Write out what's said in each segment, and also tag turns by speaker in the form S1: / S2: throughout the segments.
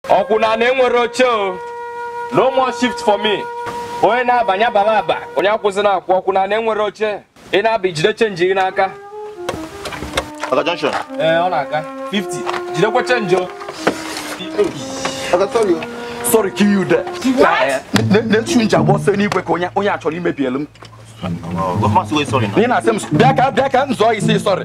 S1: ọkwụna na enwere oche o no more shift for me onye na-abanye abala aba onye akwụzina akwụ ọkwụna na enwere oche ị na-aba jide change gị n'aka
S2: Oga Junction. ee ọ na-aga 50
S1: jidekwa change o
S2: Oga sorry o. Sorry kill you there. Na shoe m ji agba ọsọ enigwe ka onye onye a chọrọ imebielu m. Government wey sorry na. Ị na-asị m bịa ka bịa ka m zọọ gị sị sorry.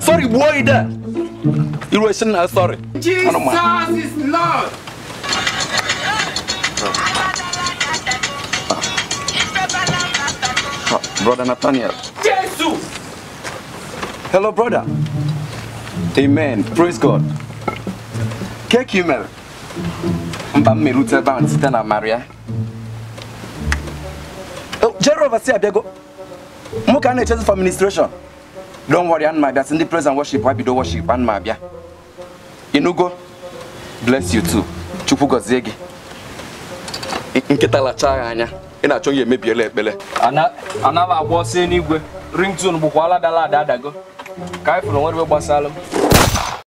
S2: Sorry gbuo gị there. You were saying, uh, sorry.
S3: Jesus is
S2: Lord. Brother Nathaniel.
S3: Jesus!
S2: Hello, brother. Amen. Praise God. Kee ka ị mere. Mba m erute ebe ahụ site n'amara ya. Oh, the overseer abịago. Mụ ka a na-echezi for administration. don't worry ana m abịa sị ndị praise and worship bido worship ana m abịa inugo bless you too chukwu gọzie gị nkịta lachaa gị anya ị na-achọ imebiela ekpele ana
S1: agba ọsọ eluigwe ringtone bụkwa ala dala ada adago ka anyị fụrụ nwere gbasara m